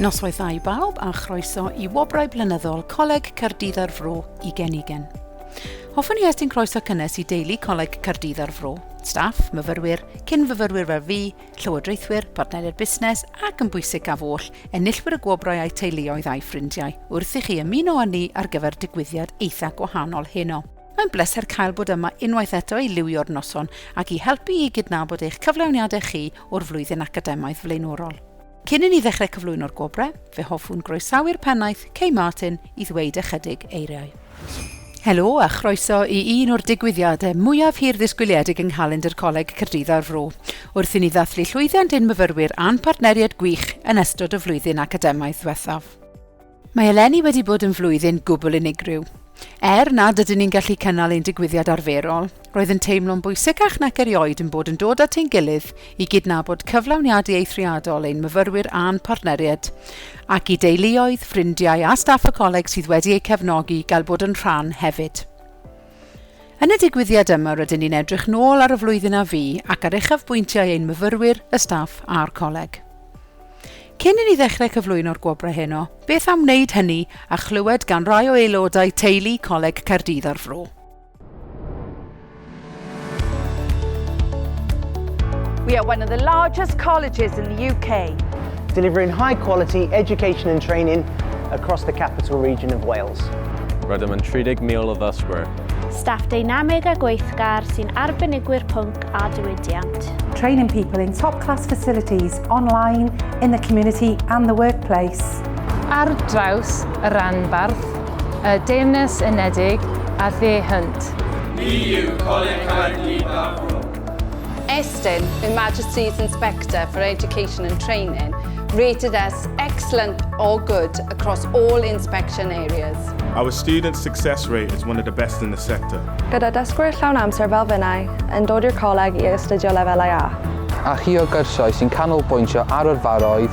Noswaithau i bawb a chroeso i Wobrau Blynyddol Coleg Cardydd ar Fro i Genigen. Hoffwn i estyn croeso cynnes i deulu Coleg Cardydd ar Fro, staff, myfyrwyr, cyn-fyfyrwyr fel fi, llywodraethwyr, partneriaid busnes ac yn bwysig gaf oll, enillwyr y gwobrau a'u teuluoedd a'i ffrindiau, wrth i chi ymuno â ni ar gyfer digwyddiad eitha gwahanol heno. Mae'n bleser cael bod yma unwaith eto i liwio'r noson ac i helpu i gydnabod eich cyflawniadau chi o'r flwyddyn academaidd flaenorol. Cyn i ni ddechrau cyflwyno'r gwobrau, fe hoffwn groesawu'r pennaeth, Kay Martin, i ddweud ychydig eiriau. Helo a chroeso i un o'r digwyddiadau mwyaf hir-ddisgwyliedig yng nghalendr Coleg Caerdydd a'r Fro, wrth i ni ddathlu llwyddiant ein myfyrwyr a'n partneriaid gwych yn ystod y flwyddyn academaidd ddiwethaf. Mae eleni wedi bod yn flwyddyn gwbl unigryw. Er nad ydyn ni'n gallu cynnal ein digwyddiad arferol, Roedd yn teimlo'n bwysicach nac erioed yn bod yn dod at ein gilydd i gydnabod cyflawniadu eithriadol ein myfyrwyr a'n partneriaid, ac i deuluoedd, ffrindiau a staff y coleg sydd wedi eu cefnogi gael bod yn rhan hefyd. Yn y digwyddiad yma rydyn ni'n edrych nôl ar y flwyddyn a fu ac ar uchafbwyntiau ein myfyrwyr, y staff a'r coleg. Cyn i ni ddechrau cyflwyno'r gwobrau heno, beth am wneud hynny a chlywed gan rai o aelodau teulu Coleg Caerdydd a'r Fro. We are one of the largest colleges in the UK. Delivering high quality education and training across the capital region of Wales. Rydym yn 30,000 o ddysgwyr. Staff dynamig a gweithgar sy'n arbenigwyr pwnc a diwydiant. Training people in top class facilities online, in the community and the workplace. Ar draws y rhanbarth, Y Deyrnas Unedig a Dde Hunt. Ni yw Coleg Caerdydd Fab Rhun. Estyn, Her Majesty's Inspector for Education and Training, rated us excellent or good across all inspection areas. Our student success rate is one of the best in the sector. Gyda dysgwyr llawn amser fel finnau yn dod i'r coleg i astudio lefelau A. A chi o gyrsiau sy'n canolbwyntio ar yrfaoedd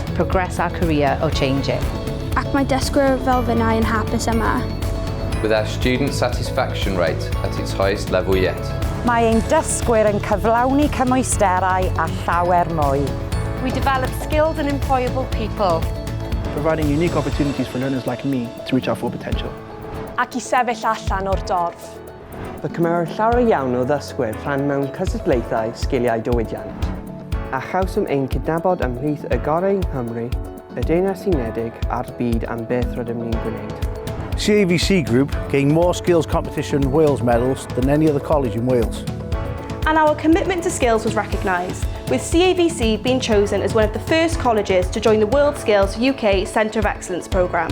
Progress our career or change it. Ac mae dysgwyr fel finnau yn hapus yma. With our student satisfaction rate at its highest level yet. Mae ein dysgwyr yn cyflawni cymwysterau a llawer mwy. We develop skilled and employable people. Providing unique opportunities for learners like me to reach our full potential. Ac i sefyll allan o'r dorf. Fe cymerodd llawer iawn o ddysgwyr rhan mewn cystadlaethau sgiliau diwydiant, a chawsom ein cydnabod ymhlith y gorau yng Nghymru, y Deyrnas Unedig a'r byd am beth rydym ni'n gwneud. CAVC Group gained more Skills Competition Wales medals than any other college in Wales. And our commitment to skills was recognised, with CAVC being chosen as one of the first colleges to join the World Skills UK Centre of Excellence programme.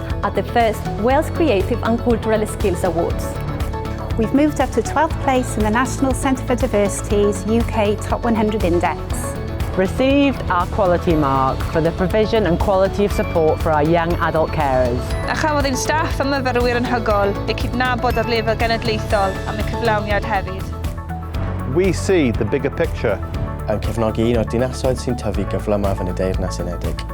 at the first Wales Creative and Cultural Skills Awards. We've moved up to 12th place in the National Centre for Diversity's UK Top 100 Index. Received our quality mark for the provision and quality of support for our young adult carers. A chafodd ein staff a myfyrwyr yn hygol eu cydnabod ar lefel genedlaethol am y cyflawniad hefyd. We see the bigger picture yn cefnogi un o'r dinasoedd sy'n tyfu gyflymaf yn y Deyrnas Unedig.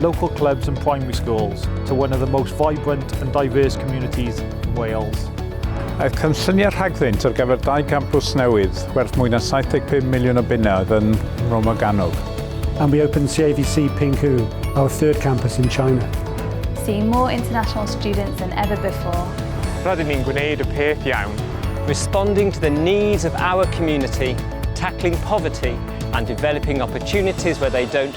local clubs and primary schools to one of the most vibrant and diverse communities in Wales. Mae cynlluniau rhagddynt ar gyfer dau gampws newydd werth mwy na 75 miliwn o bunnoedd yn Romoganog. And we opened CAVC Pinghu, our third campus in China. See more international students than ever before. Rydyn ni'n gwneud y peth iawn. Responding to the needs of our community, tackling poverty and developing opportunities where they don't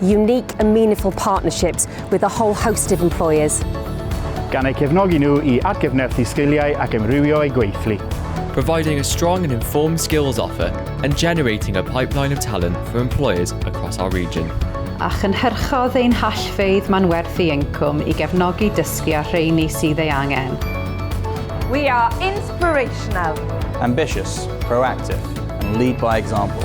unique and meaningful partnerships with a whole host of employers. Gan eu cefnogi nhw i atgyfnerthu sgiliau ac ymrywio eu gweithlu. providing a strong and informed skills offer and generating a pipeline of talent for employers across our region. a chynhyrchodd ein hallfeydd manwerthu incwm i gefnogi dysgu a rheini sydd ei angen. We are inspirational. Ambitious, proactive and lead by example.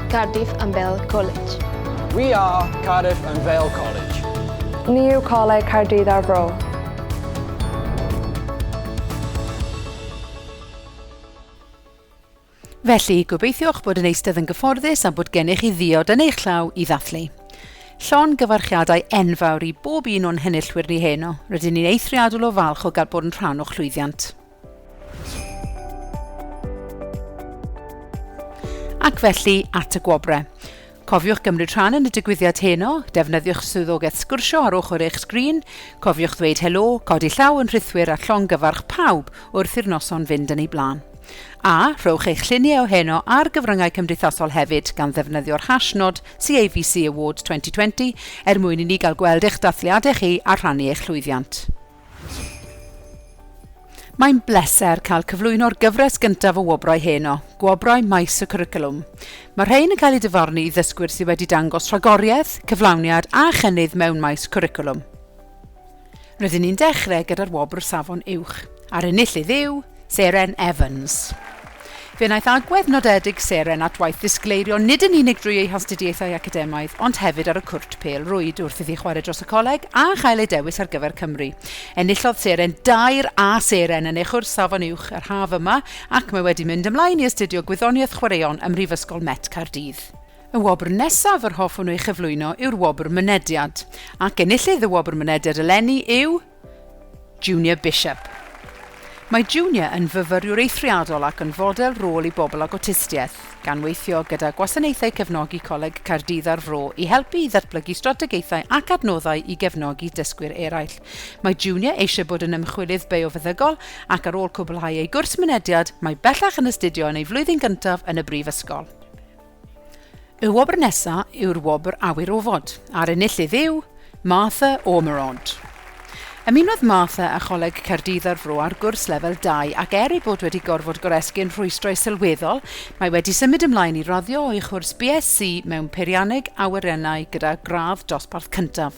Cardiff and Vale College. We are Cardiff and Vale College. Ni yw Coleg Caerdydd a'r Fro. Felly, gobeithiwch bod yn eistedd yn gyfforddus a bod gennych chi ddiod yn eich llaw i ddathlu. Llon gyfarchiadau enfawr i bob un o'n henillwyr ni heno. Rydyn ni'n eithriadol o falch o gael bod yn rhan o'ch llwyddiant. Ac felly, at y gwobrau. Cofiwch gymryd rhan yn y digwyddiad heno, defnyddiwch swyddogaeth sgwrsio ar ochr eich sgrin, cofiwch ddweud helo, codi llaw yn rhithwir a llongyfarch pawb wrth i'r noson fynd yn ei blaen. A, rhowch eich lluniau o heno ar gyfryngau cymdeithasol hefyd gan ddefnyddio'r hashnod CAVC Awards 2020 er mwyn i ni gael gweld eich dathliadau chi a rhannu eich llwyddiant. Mae'n bleser cael cyflwyno'r gyfres gyntaf o wobrau heno, Gwobrau Maes y Cwricwlwm. Mae rhain yn cael eu difarnu i ddysgwyr sydd wedi dangos rhagoriaeth, cyflawniad a chynnydd mewn maes cwricwlwm. Rydyn ni'n dechrau gyda'r wobr Safon Uwch, a'r enillydd yw... Seren Evans. Fe wnaeth agwedd nodedig Seren at waith ddisgleirio nid yn unig drwy ei hastudiaethau academaidd ond hefyd ar y cwrt pêl-rwyd wrth iddi chwarae dros y coleg a chael ei dewis ar gyfer Cymru. Enillodd Seren dair A Seren yn ei chwrs Safon Uwch yr haf yma ac mae wedi mynd ymlaen i astudio Gwyddoniaeth Chwaraeon ym Mhrifysgol Met Caerdydd. Y wobr nesaf yr hoffwn ei chyflwyno yw'r Wobr Mynediad, ac enillydd y Wobr Mynediad eleni yw, Junior Bishop. Mae Junior yn fyfyriwr eithriadol ac yn fodel rôl i bobl ag awtistiaeth, gan weithio gyda Gwasanaethau Cefnogi Coleg Caerdydd a'r Fro i helpu i ddatblygu strategaethau ac adnoddau i gefnogi dysgwyr eraill. Mae Junior eisiau bod yn ymchwilydd biofeddygol ac ar ôl cwblhau ei gwrs mynediad, mae bellach yn astudio yn ei flwyddyn gyntaf yn y brifysgol. Y wobr nesa yw'r wobr Awyr Ofod, a'r enillydd yw Martha Ormerod. Ymunodd Martha â Choleg Caerdydd ar Fro ar gwrs lefel 2 ac er ei bod wedi gorfod goresgyn rhwystrau sylweddol, mae wedi symud ymlaen i raddio o'i chwrs BSc mewn Peirianneg Awyrennau gyda gradd dosbarth cyntaf.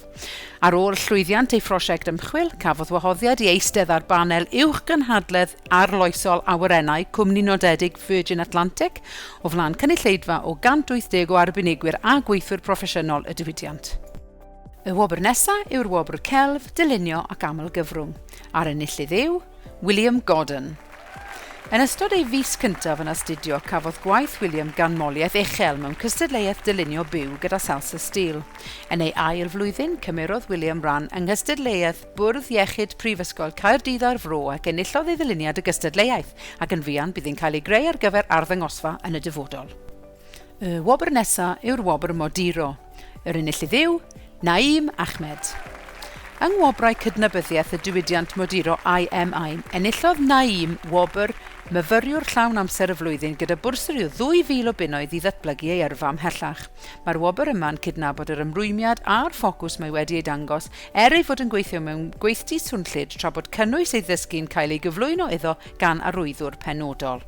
Ar ôl llwyddiant ei phrosiect ymchwil, cafodd wahoddiad i eistedd ar banel uwchgynhadledd arloesol awyrennau cwmni nodedig Virgin Atlantic, o flaen cynulleidfa o 180 o arbenigwyr a gweithwyr proffesiynol y diwydiant. Y wobr nesa yw'r wobr Celf, Dylunio ac Amlgyfrwng, a'r enillydd yw William Gordon. Yn ystod ei fis cyntaf yn astudio, cafodd gwaith William ganmoliaeth uchel mewn cystadleuaeth dylunio byw gyda Salsa Steel. Yn ei ail flwyddyn, cymerodd William ran yng nghystadleuaeth Bwrdd Iechyd Prifysgol Caerdydd a'r Fro ac enillodd ei ddyluniad y gystadleuaeth, ac yn fuan bydd yn cael ei greu ar gyfer arddangosfa yn y dyfodol. Y wobr nesa yw'r wobr Moduro. Yr enillydd yw Naeem Ahmed. Yng Ngwobrau Cydnabyddiaeth y Diwydiant Moduro IMI, enillodd Naeem wobr Myfyriwr Llawn Amser y Flwyddyn gyda bursary o 2,000 o bunnoedd i ddatblygu ei yrfa ymhellach. Mae'r wobr yma'n cydnabod yr ymrwymiad a'r ffocws mae wedi ei dangos er ei fod yn gweithio mewn gweithdy swnllyd tra bod cynnwys ei ddysgu'n cael ei gyflwyno iddo gan arwyddwr penodol.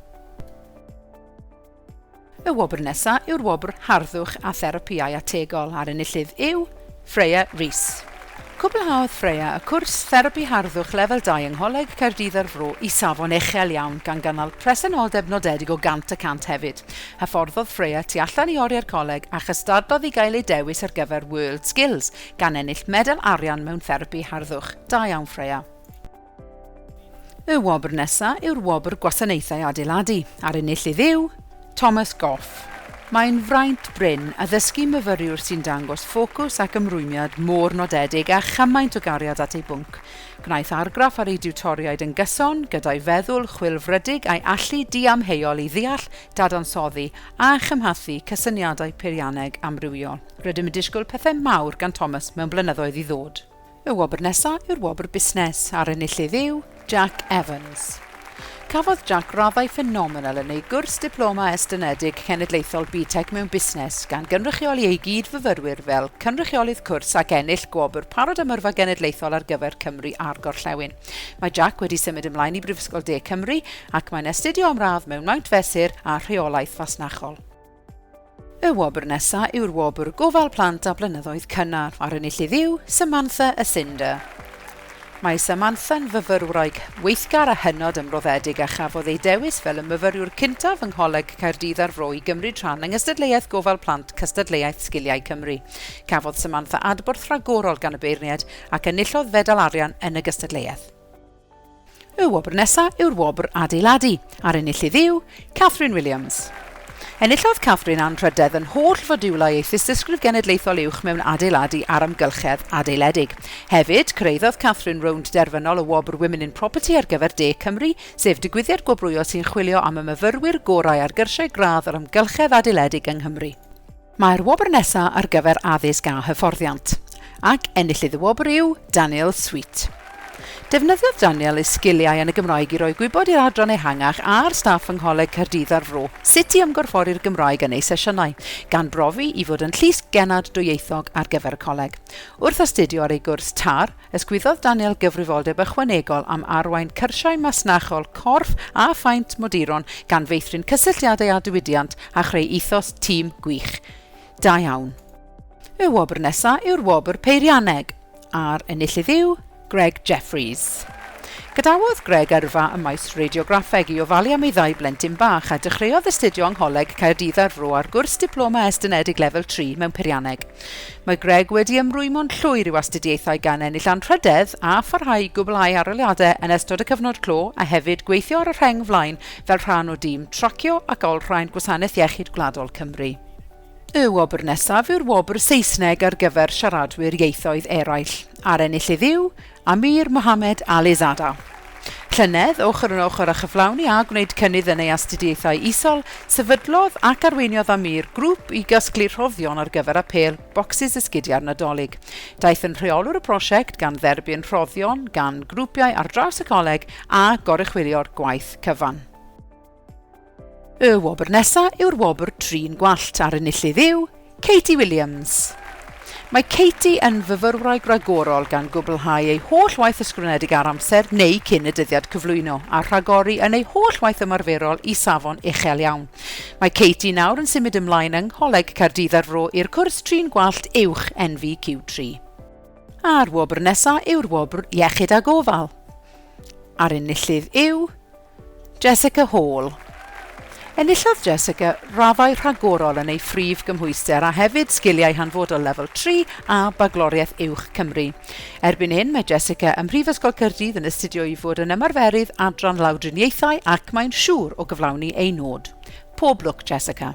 Y wobr nesaf yw'r wobr Harddwch a Therapïau Ategol a'r enillydd yw Freya Rees. Cwblhaodd Freya y cwrs Therapi Harddwch Lefel 2 yng Ngholeg Caerdydd a'r Fro i safon uchel iawn gan gynnal presenoldeb nodedig o 100 y cant hefyd. Hyfforddodd Freya tu allan i oriau'r coleg a chystadlodd i gael ei dewis ar gyfer WorldSkills, gan ennill medal arian mewn therapi harddwch. Da iawn Freya. Y wobr nesa yw'r Wobr Gwasanaethau Adeiladu, a'r enillydd yw Thomas Goff. Mae'n fraint brin addysgu myfyriwr sy'n dangos ffocws ac ymrwymiad mor nodedig a chymaint o gariad at ei bwnc. Gwnaeth argraff ar ei diwtoriaid yn gyson gyda'i feddwl chwilfrydig a'i allu diamheuol i ddeall, dadansoddi a chymhathu cysyniadau peirianneg amrywiol. Rydym yn disgwyl pethau mawr gan Thomas mewn blynyddoedd i ddod. Y wobr nesa yw'r wobr busnes, a'r enillydd yw Jack Evans. Cafodd Jack raddau ffenomenal yn ei gwrs Diploma Estynedig Cenedlaethol BTEC mewn Busnes, gan gynrychioli ei gyd-fyfyrwyr fel cynrychiolydd cwrs ac ennill gwobr Parod am Yrfa Genedlaethol ar gyfer Cymru a'r Gorllewin. Mae Jack wedi symud ymlaen i Brifysgol De Cymru ac mae'n astudio am radd mewn Maint Fesur a Rheolaeth Fasnachol. Y wobr nesa yw'r wobr Gofal Plant a Blynyddoedd Cynnar, a'r enillydd yw Samantha a Cinder. Mae Samantha'n fyfyrwraig weithgar a hynod ymroddedig a chafodd ei dewis fel y myfyriwr cyntaf yng Ngholeg Caerdydd a'r Fro i gymryd rhan yng Ngystadleuaeth Gofal Plant Cystadleuaeth Sgiliau Cymru. Cafodd Samantha adborth rhagorol gan y beirniaid ac enillodd fedal arian yn y gystadleuaeth. Y wobr nesaf yw'r wobr Adeiladu, a'r enillydd yw Catherine Williams. Enillodd Catherine anrhydedd yn holl fodiwlau ei Thystysgrif Genedlaethol Uwch mewn Adeiladu a'r Amgylchedd Adeiledig. Hefyd, cyrhaeddodd Catherine rownd derfynol y wobr Women in Property ar gyfer De Cymru, sef digwyddiad gwobrwyo sy'n chwilio am y myfyrwyr gorau ar gyrsiau gradd yr amgylchedd adeiledig yng Nghymru. Mae'r wobr nesa ar gyfer addysg a hyfforddiant, ac enillydd y wobr yw Daniel Sweet. Defnyddiodd Daniel ei sgiliau yn y Gymraeg i roi gwybod i'r adran ehangach a'r staff yng Ngholeg Caerdydd a'r Fro sut i ymgorffori'r Gymraeg yn eu sesiynau, gan brofi i fod yn llys genad dwyieithog ar gyfer y coleg. Wrth astudio ar ei gwrs tar, Ysgwyddodd Daniel gyfrifoldeb ychwanegol am arwain cyrsiau masnachol corff a phaent moduron gan feithrin cysylltiadau â diwydiant a chreu ethos tîm gwych. Da iawn. Y wobr nesa yw'r wobr peirianneg, a'r enillydd yw Greg Jeffreys. Gadawodd Greg yrfa ym maes radiograffeg i ofalu am ei ddau blentyn bach a dechreuodd astudio yng Ngholeg Caerdydd a'r Fro ar gwrs Diploma Estynedig Lefel Tri mewn Peirianneg. Mae Greg wedi ymrwymo'n llwyr i'w astudiaethau gan ennill anrhydedd a pharhau i gwblhau arholiadau yn ystod y cyfnod clo a hefyd gweithio ar y rheng flaen fel rhan o dîm tracio ac olrhain Gwasanaeth Iechyd Gwladol Cymru. Y wobr nesaf yw'r wobr Saesneg ar gyfer siaradwyr ieithoedd eraill, a'r enillydd yw Amir Mohamed Ali Zada. Llynedd, ochr yn ochr â chyflawni a gwneud cynnydd yn ei astudiaethau isol, sefydlodd ac arweiniodd Amir grŵp i gasglu rhoddion ar gyfer apêl bocsys esgidiau'r Nadolig. Daeth yn rheolwr y prosiect, gan dderbyn rhoddion gan grwpiau ar draws y coleg a goruchwylio'r gwaith cyfan. Y wobr nesa yw'r wobr Trin Gwallt a'r enillydd yw Katie Williams. Mae Katie yn fyfyrwraig ragorol gan gwblhau ei holl waith ysgrifenedig ar amser neu cyn y dyddiad cyflwyno a rhagori yn ei holl waith ymarferol i safon uchel iawn. Mae Katie nawr yn symud ymlaen yng Ngholeg Caerdydd ar Fro i'r cwrs Trin Gwallt Uwch NVQ3. A'r wobr nesa yw'r wobr Iechyd a Gofal. A'r enillydd yw Jessica Hall Enillodd Jessica raddau rhagorol yn ei phrif gymhwyster a hefyd Sgiliau Hanfodol Lefel Tri a Bagloriaeth Uwch Cymru. Erbyn hyn mae Jessica ym Mhrifysgol Caerdydd yn astudio i fod yn Ymarferydd Adran Lawdriniaethau ac mae'n siŵr o gyflawni ei nod. Pob lwc Jessica.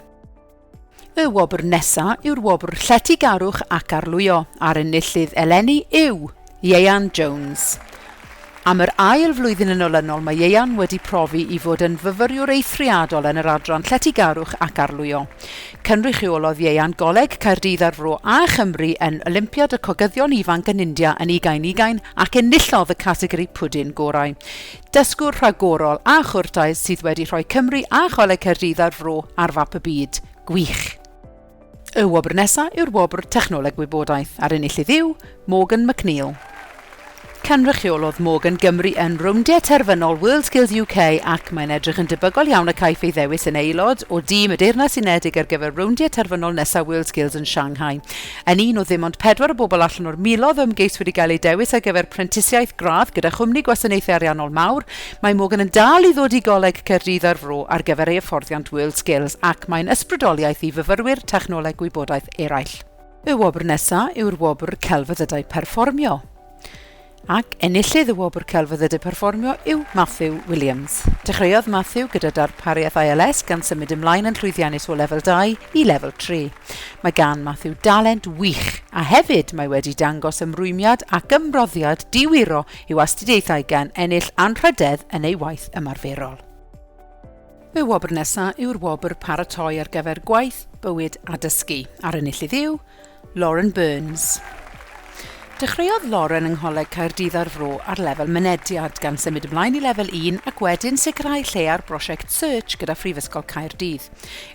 Y wobr nesa yw'r wobr Lletygarwch ac Arlwyo a'r enillydd eleni yw Ieuan Jones. Am yr ail flwyddyn yn olynol mae Ieuan wedi profi i fod yn fyfyriwr eithriadol yn yr adran Lletygarwch ac Arlwyo. Cynrychiolodd Ieuan Goleg Caerdydd a'r Fro a Chymru yn Olympiad y Cogyddion Ifanc yn India yn ugain ugain ac enillodd y categori pwdin gorau. Dysgwr rhagorol a chwrtais sydd wedi rhoi Cymru a Choleg Caerdydd a'r Fro ar fap y byd. Gwych! Y wobr nesa yw'r wobr Technoleg Gwybodaeth a'r enillydd yw Morgan McNeil. Cynrychiolodd Morgan Gymru yn rowndiau terfynol WorldSkills UK ac mae'n edrych yn debygol iawn y caiff ei ddewis yn aelod o dîm y Deyrnas Unedig ar gyfer rowndiau terfynol nesaf WorldSkills yn Shanghai. yn un o ddim ond pedwar o bobl allan o'r miloedd o ymgeiswyr i gael eu dewis ar gyfer prentisiaeth gradd gyda chwmni gwasanaethau ariannol mawr, mae Morgan yn dal i ddod i Goleg Caerdydd a'r Fro ar gyfer ei hyfforddiant WorldSkills ac mae'n ysbrydoliaeth i fyfyrwyr technoleg gwybodaeth eraill. Y wobr nesaf yw'r wobr Celfyddydau Perfformio. ac enillydd y Wobr Celfyddyd y Perfformio yw Matthew Williams. Dechreuodd Matthew gyda darpariaeth ALS gan symud ymlaen yn llwyddiannus o lefel 2 i lefel 3. Mae gan Matthew dalent wych a hefyd mae wedi dangos ymrwymiad ac ymroddiad diwiro i'w astudiaethau gan ennill anrhydedd yn ei waith ymarferol. Y wobr nesaf yw'r wobr Paratoi ar gyfer Gwaith, Bywyd a Dysgu, a'r enillydd yw Lauren Burns. Dechreuodd Lauren yng Ngholeg Caerdydd a'r Fro ar lefel Mynediad, gan symud ymlaen i Lefel Un ac wedyn sicrhau lle ar brosiect Search gyda Phrifysgol Caerdydd.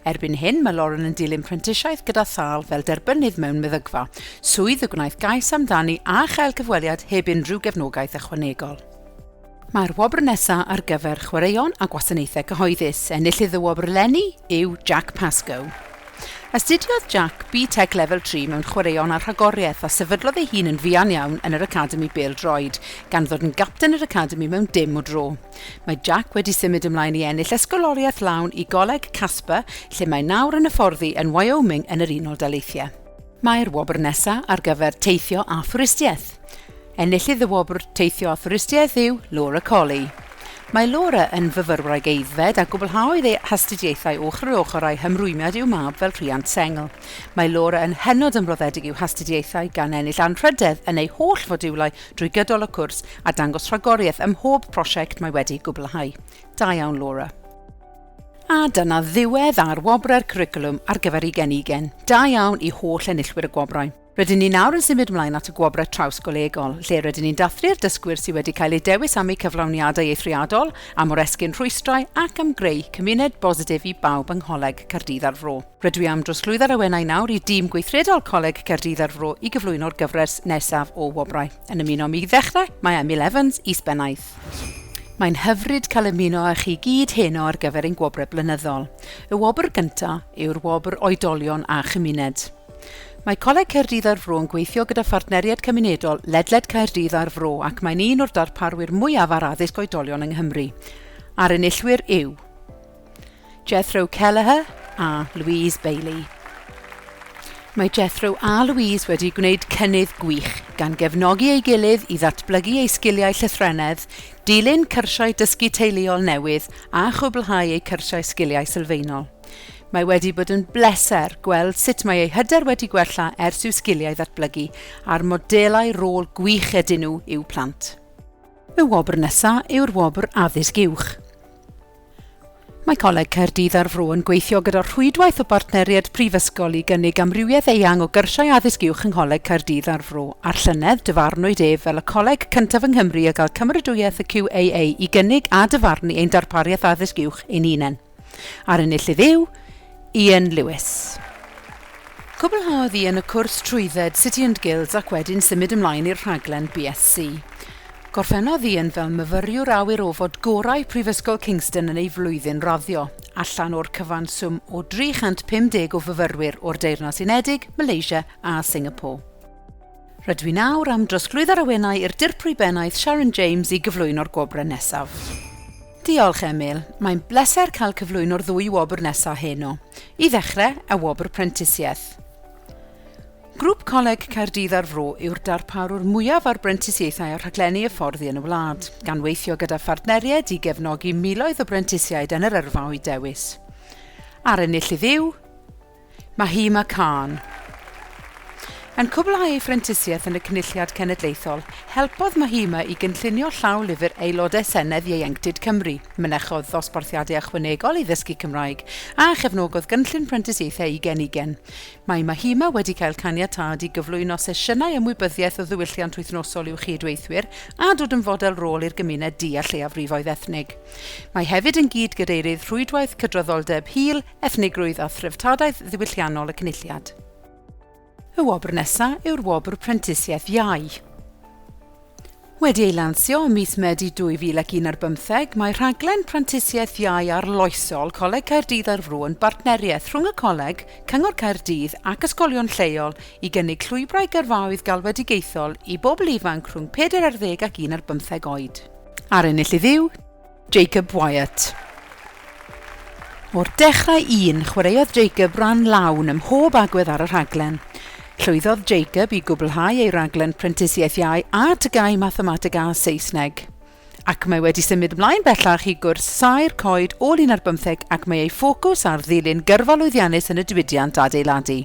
Erbyn hyn mae Lauren yn dilyn prentisiaeth gyda Thal fel derbynnydd mewn meddygfa, swydd y gwnaeth gais amdani a chael cyfweliad heb unrhyw gefnogaeth ychwanegol. Mae'r wobr nesaf ar gyfer Chwaraeon a Gwasanaethau Cyhoeddus. Enillydd y wobr eleni yw Jack Pascoe. Astudiodd Jack BTEC Level 3 mewn Chwaraeon a Rhagoriaeth a sefydlodd ei hun yn fuan iawn yn yr Academi Bêl Droed, gan ddod yn gapten yr Academi mewn dim o dro. Mae Jack wedi symud ymlaen i ennill ysgoloriaeth lawn i Goleg Casper, lle mae nawr yn hyfforddi yn Wyoming yn yr Unol Daleithiau. Mae'r wobr nesa ar gyfer teithio a thwristiaeth. Enillydd y wobr teithio a thwristiaeth yw Laura Colley. Mae Laura yn fyfyrwraig aeddfed a gwblhaodd ei hastudiaethau ochr yn ochr â'i hymrwymiad i'w mab fel rhiant sengl. Mae Laura yn hynod ymroddedig i'w hastudiaethau gan ennill anrhydedd yn ei holl fodiwlau drwy gydol y cwrs a dangos rhagoriaeth ym mhob prosiect mae wedi gwblhau. Da iawn Laura. A dyna ddiwedd ar wobrau'r Cwricwlwm ar gyfer Ugen Ugen. Da iawn i holl enillwyr y gwobrau. Rydyn ni nawr yn symud ymlaen at y gwobrau trawsgolegol, lle rydyn ni'n dathlu'r dysgwyr sydd wedi cael eu dewis am eu cyflawniadau eithriadol, am oresgyn rhwystrau ac am greu cymuned bositif i bawb yng Ngholeg Caerdydd a'r Fro. Rydw i am drosglwyddo'r awenau nawr i dîm gweithredol Coleg Caerdydd a'r Fro i gyflwyno'r gyfres nesaf o wobrau. Yn ymuno â mi i ddechrau, mae Emil Evans, Is-Bennaeth. Mae'n hyfryd cael ymuno â chi gyd heno ar gyfer ein gwobrau blynyddol. Y wobr gyntaf yw'r wobr Oedolion a Chymuned. Mae Coleg Caerdydd a'r Fro yn gweithio gyda phartneriaid cymunedol ledled Caerdydd a'r Fro ac mae'n un o'r darparwyr mwyaf ar addysg oedolion yng Nghymru. A'r enillwyr yw... Jethro Kelleher a Louise Bailey. Mae Jethro a Louise wedi gwneud cynnydd gwych, gan gefnogi ei gilydd i ddatblygu eu sgiliau llythrennedd, dilyn cyrsiau dysgu teuluol newydd a chwblhau eu cyrsiau sgiliau sylfaenol. Mae wedi bod yn bleser gweld sut mae eu hyder wedi gwella ers i'w sgiliau ddatblygu a'r modelau rôl gwych ydyn nhw i'w plant. Y wobr nesaf yw'r Wobr Addysg Uwch. Mae Coleg Caerdydd a'r Fro yn gweithio gyda Rhwydwaith o Bartneriaid Prifysgol i gynnig amrywiaeth eang o gyrsiau addysg uwch yng Ngholeg Caerdydd a'r Fro, a'r llynedd, dyfarnwyd ef fel y coleg cyntaf yng Nghymru a gael cymeradwyaeth y QAA i gynnig a dyfarnu ein darpariaeth addysg uwch ein hunain. A'r enillydd yw, Ian Lewis. Cwblhaodd Ian y cwrs trwydded City and Guilds ac wedyn symud ymlaen i'r rhaglen BSc. Gorffennodd Ian fel myfyriwr awyr ofod gorau Prifysgol Kingston yn ei flwyddyn raddio, allan o'r cyfanswm o 350 o fyfyrwyr o'r Deyrnas Unedig, Malaysia a Singapore. Rydw i'n awr am drosglwyddo ar awenau i'r Dirprwy Bennaeth Sharon James i gyflwyno'r gwobrau nesaf. Diolch, Emil. Mae'n bleser cael cyflwyno'r ddwy wobr nesaf heno. I ddechrau, y wobr prentisiaeth. Grŵp Coleg Caerdydd a'r Fro yw'r darparwr mwyaf ar brentisiaethau a rhaglenni hyfforddi yn y wlad, gan weithio gyda phartneriaid i gefnogi miloedd o brentisiaid yn yr yrfa o'u dewis. A'r enillydd yw... Mahima Khan. Yn cwblhau ei phrentisiaeth yn y Cynulliad Cenedlaethol, helpodd Mahima i gynllunio llaw lyfr Aelodau Senedd Ieuenctid Cymru, mynechodd ddosbarthiadau ychwanegol i ddysgu Cymraeg, a chefnogodd gynllun prentisiaethau i genigen. Mae Mahima wedi cael caniatâd i gyflwyno sesiynau ymwybyddiaeth o ddiwylliant wythnosol i'w chyd-weithwyr a dod yn fodel rôl i'r gymuned du a lleiafrifoedd ethnig. Mae hefyd yn gyd-gadeirydd Rhwydwaith Cydraddoldeb Hil Ethnigrwydd a threftadaeth ddiwylliannol y Cynulliad. Y wobr nesaf yw'r Wobr Prentisiaeth Iau. Wedi ei lansio ym mis Medi 2001 ar bymtheg, mae rhaglen prentisiaeth iau arloesol Coleg Caerdydd ar Fru yn bartneriaeth rhwng y Coleg, Cyngor Caerdydd ac ysgolion lleol i gynnig llwybrau gyrfaoedd galwedigaethol i bobl ifanc rhwng pedair ar ddeg ac un ar bymtheg oed. Ar ennill i Dduw! Jacob Wyatt. O'r dechrau un, chwaraeodd Jacob ran lawn ym mhob agwedd ar y rhaglen. Llwyddodd Jacob i gwblhau ei raglen Prentisiaeth Iau a Tygau Mathemateg a Saesneg. Ac mae wedi symud ymlaen bellach i gwrs Saer Coed ôl un ar bymtheg ac mae ei ffocws ar ddilyn gyrfa lwyddiannus yn y diwydiant adeiladu.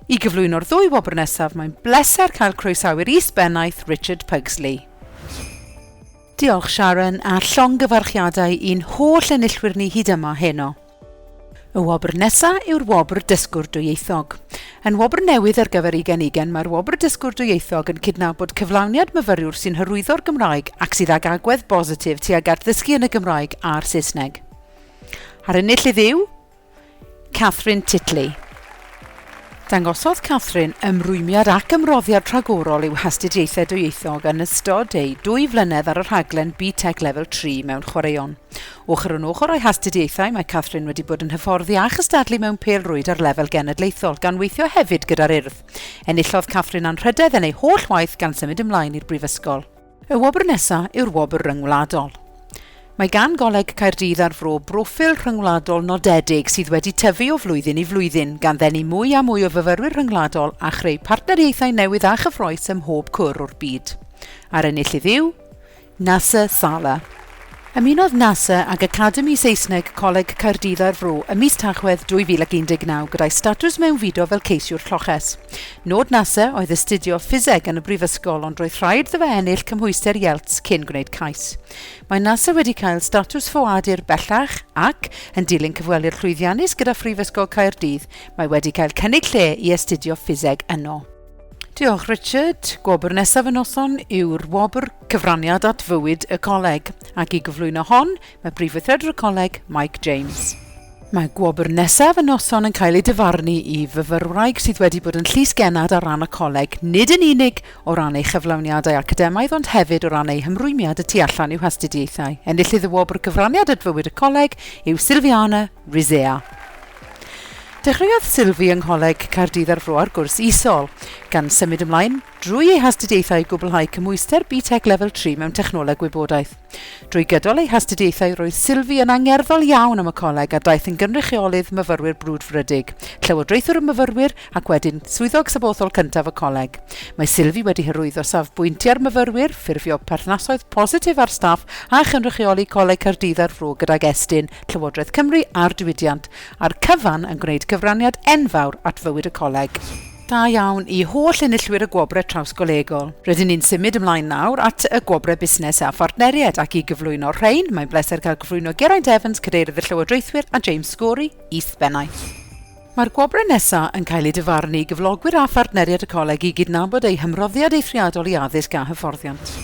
I gyflwyno'r ddwy wobr nesaf, mae'n bleser cael croesawu'r Is-bennaeth Richard Pugsley. Diolch Sharon, a llongyfarchiadau i'n holl enillwyr ni hyd yma heno. Y wobr nesa yw'r wobr Dysgwr Dwyieithog. Yn wobr newydd ar gyfer Ugen Ugen, mae'r wobr Dysgwr Dwyieithog yn cydnabod cyflawniad myfyriwr sy'n hyrwyddo'r Gymraeg ac sydd ag agwedd bositif tuag at ddysgu yn y Gymraeg a'r Saesneg. A'r enillydd yw... Catherine Titley. Dangosodd Catherine ymrwymiad ac ymroddiad rhagorol i'w hastudiaethau dwyieithog yn ystod ei dwy flynedd ar y rhaglen BTEC Lefel 3 mewn chwaraeon. Ochr yn ochr â'i hastudiaethau, mae Catherine wedi bod yn hyfforddi a chystadlu mewn pêl-rwyd ar lefel genedlaethol, gan weithio hefyd gyda'r Urdd. Enillodd Catherine anrhydedd yn ei holl waith gan symud ymlaen i'r Brifysgol. Y wobr nesa' yw'r wobr ryngwladol. Mae gan Goleg Caerdydd a'r Fro broffil rhyngwladol nodedig sydd wedi tyfu o flwyddyn i flwyddyn, gan ddenu mwy a mwy o fyfyrwyr rhyngwladol a chreu partneriaethau newydd a chyffrous ym mhob cwr o'r byd. A'r enillydd yw, Nasser Saleh. Ymunodd Nasser ag Academi Saesneg Coleg Caerdydd a'r Fro ym mis Tachwedd 2019 gyda'i statws mewnfudo fel ceisiwr lloches. Nod Nasser oedd astudio ffiseg yn y brifysgol ond roedd rhaid iddo fe ennill cymhwyster IELTS cyn gwneud cais. Mae Nasser wedi cael statws ffoadur bellach ac, yn dilyn cyfweliad llwyddiannus gyda Phrifysgol Caerdydd, mae wedi cael cynnig lle i astudio ffiseg yno. Diolch, Richard. Gwobr nesaf y noson yw'r wobr Cyfraniad at Fywyd y Coleg, ac i gyflwyno hon, mae Prif Weithredwr y Coleg, Mike James. Mae gwobr nesaf y noson yn cael ei dyfarnu i fyfyrwraig sydd wedi bod yn llys genad ar ran y coleg, nid yn unig o ran ei chyflawniadau academaidd ond hefyd o ran ei hymrwymiad y tu allan i'w hastudiaethau. Enillydd y wobr Cyfraniad at Fywyd y Coleg yw Silviana Rizea. Dechreuodd Sylvie yng Ngholeg Caerdydd ar fro'r gwrs isol, gan symud ymlaen drwy ei hastudiaethau i gwblhau cymhwyster BTEC Lefel Tri mewn Technoleg Gwybodaeth. Drwy gydol ei hastudiaethau roedd Sylvie yn angerddol iawn am y coleg a daeth yn gynrychiolydd myfyrwyr brwdfrydig, llywodraethwr y myfyrwyr ac wedyn Swyddog Sabothol cyntaf y coleg. Mae Sylvie wedi hyrwyddo safbwyntiau'r myfyrwyr, ffurfio perthnasoedd positif â'r staff a chynrychioli Coleg Caerdydd ar fro gydag Estyn, Llywodraeth Cymru a'r diwydiant. a'r cyfan yn gwneud cyfraniad enfawr at fywyd y Coleg. Da iawn i holl enillwyr y Gwobrau Trawsgolegol. Rydyn ni'n symud ymlaen nawr at y Gwobrau Busnes a Phartneriaid ac i gyflwyno'r rhain, mae'n bleser cael cyflwyno Geraint Evans, Cadeirydd y Llywodraethwyr, a James Scory, Is-bennaeth. Mae'r gwobrau nesaf yn cael eu dyfarnu i gyflogwyr a phartneriaid y Coleg i gydnabod eu hymroddiad eithriadol i addysg a hyfforddiant.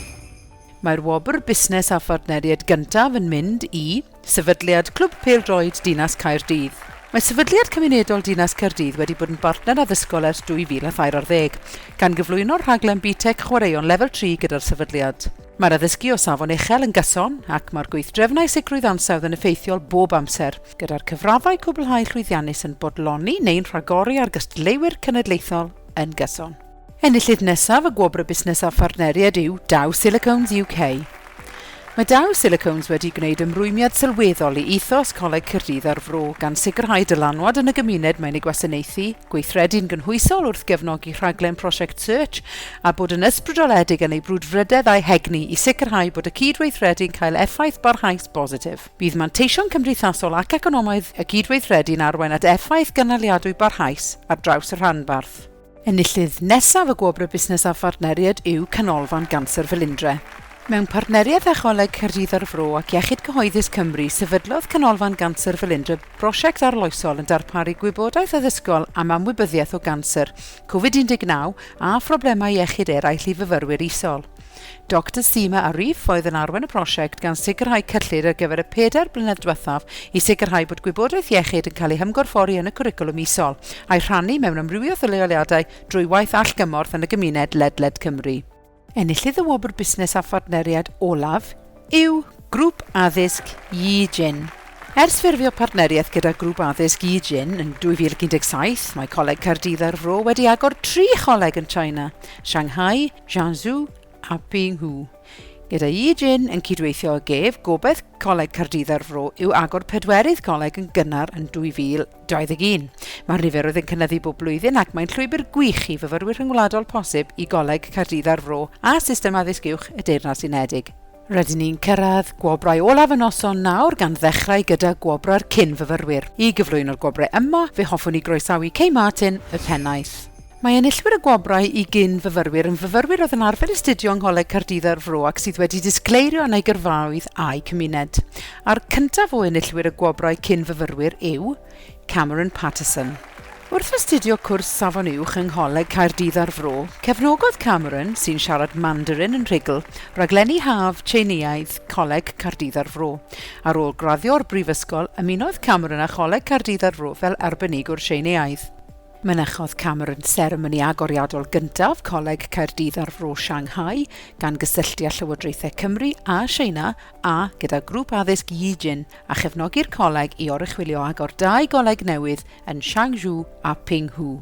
Mae'r wobr Busnes a Phartneriaid gyntaf yn mynd i. Sefydliad Clwb Pêl-droed Dinas Caerdydd Mae Sefydliad Cymunedol Dinas Caerdydd wedi bod yn bartner addysgol ers 2010, gan gyflwyno'r rhaglen BTEC Chwaraeon Lefel 3 gyda'r Sefydliad. Mae'r addysgu o safon uchel yn gyson ac mae'r gweithdrefnau sicrwydd ansawdd yn effeithiol bob amser, gyda'r cyfraddau cwblhau llwyddiannus yn bodloni neu'n rhagori ar gystadleuwyr cenedlaethol yn gyson. Enillydd nesaf y Gwobr Busnes a Phartneriaid yw Dow Silicones UK. Mae Dow Silicones wedi gwneud ymrwymiad sylweddol i ethos Coleg Caerdydd a'r Fro, gan sicrhau dylanwad yn y gymuned mae'n ei gwasanaethu, gweithredu'n gynhwysol wrth gefnogi rhaglen Prosiect Search, a bod yn ysbrydoledig yn ei brwdfrydedd a'i hegni i sicrhau bod y cyd-weithredu'n cael effaith barhaus bositif. Bydd manteision cymdeithasol ac economaidd y cyd-weithredu'n arwain at effaith gynaliadwy barhaus ar draws y rhanbarth. Enillydd nesaf y Gwobrau Busnes a Phartneriaid yw Canolfan Ganser Felindre. Mewn partneriaeth â Choleg Caerdydd a'r Fro ac Iechyd Cyhoeddus Cymru, sefydlodd Canolfan Ganser Felindre brosiect arloesol yn darparu gwybodaeth addysgol am amwybyddiaeth o ganser, Covid 19 a phroblemau iechyd eraill i fyfyrwyr isol. Doctor Seema Arif oedd yn arwain y prosiect gan sicrhau cyllid ar gyfer y pedair blynedd diwethaf i sicrhau bod gwybodaeth iechyd yn cael ei hymgorffori yn y cwricwlwm isol a'i rhannu mewn amrywiaeth o leoliadau drwy waith allgymorth yn y gymuned ledled Cymru. Enillydd y Wobr Busnes a Phartneriaid olaf yw Grŵp Addysg Yi Jin. Ers ffurfio partneriaeth gyda Grŵp Addysg Yi Jin yn 2017, mae Coleg Caerdydd a'r Fro wedi agor tri choleg yn China, Shanghai, Jiangsu a Pinghu. Gyda Yi Jin yn cydweithio ag ef, gobaith Coleg Caerdydd a'r Fro yw agor pedwerydd coleg yn gynnar yn 2021. Mae'r niferoedd yn cynyddu bob blwyddyn ac mae'n llwybr gwych i fyfyrwyr rhyngwladol posib i Goleg Caerdydd a'r Fro a system addysg uwch y Deyrnas Unedig. Rydyn ni'n cyrraedd gwobrau olaf y noson nawr gan ddechrau gyda gwobrau'r cyn-fyfyrwyr. I gyflwyno'r gwobrau yma, fe hoffwn i groesawu Kay Martin, y pennaeth. Mae enillwyr y gwobrau i gyn-fyfyrwyr yn fyfyrwyr oedd yn arfer astudio yng Ngholeg Caerdydd a'r Fro ac sydd wedi disgleirio yn eu gyrfaoedd a'u cymuned. A'r cyntaf o enillwyr y gwobrau cyn-fyfyrwyr yw. Cameron Paterson. Wrth astudio cwrs Safon Uwch yng Ngholeg Caerdydd a'r Fro, cefnogodd Cameron, sy'n siarad Mandarin yn rhugl, raglenni haf Tsieineaidd Coleg Caerdydd a'r Fro. Ar ôl graddio o'r brifysgol, ymunodd Cameron â Choleg Caerdydd a'r Fro fel arbenigwr Tsieineaidd. Mynychodd Cameron seremoni agoriadol gyntaf Coleg Caerdydd a'r Fro Shanghai, gan gysylltu â Llywodraethau Cymru a Tsieina a gyda Grŵp Addysg Yijin a chefnogi'r coleg i oruchwylio agor dau goleg newydd yn Shangzhou a Pinghu.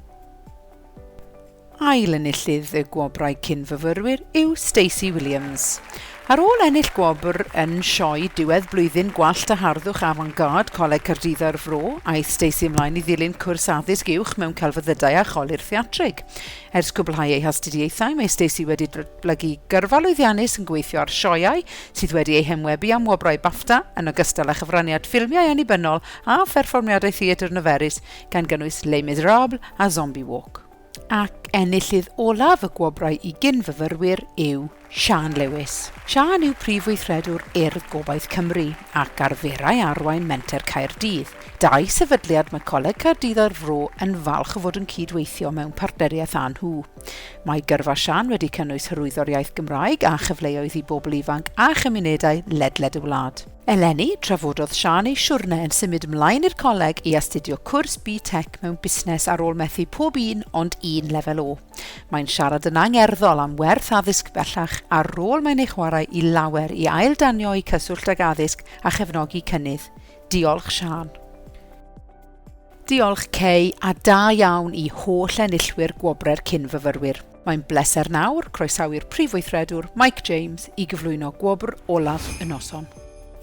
Ail enillydd y gwobrau cyn-fyfyrwyr yw Stacey Williams. Ar ôl ennill gwobr yn sioe diwedd blwyddyn gwallt a harddwch avant-garde Coleg Caerdydd a'r Fro, aeth Stacey ymlaen i ddilyn cwrs addysg uwch mewn celfyddydau a cholur theatrig. Ers cwblhau ei hastudiaethau, mae Stacey wedi blygu gyrfa lwyddiannus yn gweithio ar sioeau sydd wedi eu henwebu am wobrau BAFTA, yn ogystal â chyfraniad ffilmiau annibynnol a pherfformiadau theatr niferus, gan gynnwys Les Miserables a Zombie Walk. Ac enillydd olaf y gwobrau i gyn-fyfyrwyr yw Siân Lewis. Siân yw Prif Weithredwr Urdd Gobaith Cymru ac arferai arwain Menter Caerdydd. Daeth sefydliad Mycoleg Caerdydd a'r Fro yn falch o fod yn cyd-weithio mewn partneriaeth â nhw. Mae Gyrfa Siân wedi cynnwys hyrwyddo'r iaith Gymraeg a chyfleoedd i bobl ifanc a chymunedau ledled y wlad. Eleni, trafododd Siân ei siwrne yn symud mlaen i'r coleg i astudio cwrs BTEC mewn busnes ar ôl methu pob un ond un lefel O. Mae'n siarad yn angerddol am werth addysg bellach a'r rôl mae'n ei chwarae i lawer i ailddanio'u cyswllt ag addysg a chefnogi cynnydd. Diolch Siân. Diolch Kay, a da iawn i holl enillwyr Gwobrau'r Cyn-fyfyrwyr. Mae'n bleser nawr croesawu'r Prif Weithredwr, Mike James, i gyflwyno gwobr olaf y noson.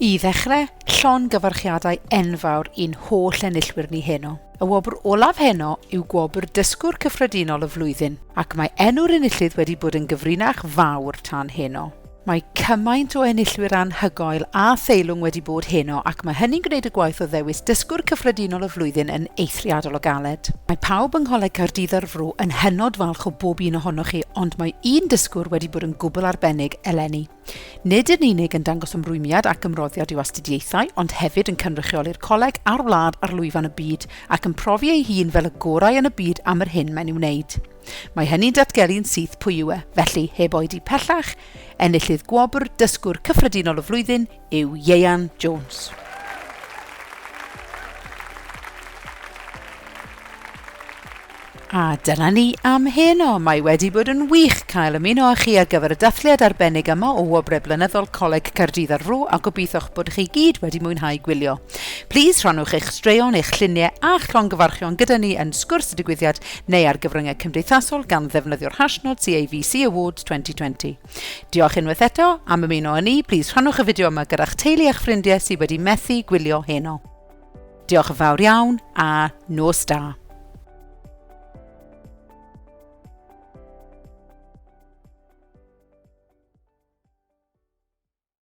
I ddechrau, llongyfarchiadau enfawr i'n holl enillwyr ni heno. Y wobr olaf heno yw gwobr Dysgwr Cyffredinol y Flwyddyn, ac mae enw'r enillydd wedi bod yn gyfrinach fawr tan heno. Mae cymaint o enillwyr anhygoel a theilwng wedi bod heno ac mae hynny'n gwneud y gwaith o ddewis Dysgwr Cyffredinol y Flwyddyn yn eithriadol o galed. Mae pawb yng Ngholeg Caerdydd a'r Fro yn hynod falch o bob un ohonoch chi ond mae un dysgwr wedi bod yn gwbl arbennig eleni. Nid yn unig yn dangos ymrwymiad ac ymroddiad i'w astudiaethau ond hefyd yn cynrychioli'r coleg a'r wlad ar lwyfan y byd ac yn profi ei hun fel y gorau yn y byd am yr hyn mae'n ei wneud. Mae hynny'n datgelu'n syth pwy yw e, felly, heb oedi pellach, enillydd gwobr Dysgwr Cyffredinol y Flwyddyn yw Ieuan Jones. A dyna ni am heno. Mae wedi bod yn wych cael ymuno â chi ar gyfer y dathliad arbennig yma o Wobrau Blynyddol Coleg Caerdydd ar Fro a gobeitho'ch bod chi gyd wedi mwynhau gwylio. Plîs rhannwch eich straeon, eich lluniau a'ch llongyfarchion gyda ni yn Sgwrs y Digwyddiad neu ar gyfryngau cymdeithasol gan ddefnyddio'r hashnod CAVC Awards 2020. Diolch unwaith eto am ymuno â ni, plîs rhannwch y fideo yma gyda'ch teulu a'ch ffrindiau sydd wedi methu gwylio heno. Diolch yn fawr iawn a nos da!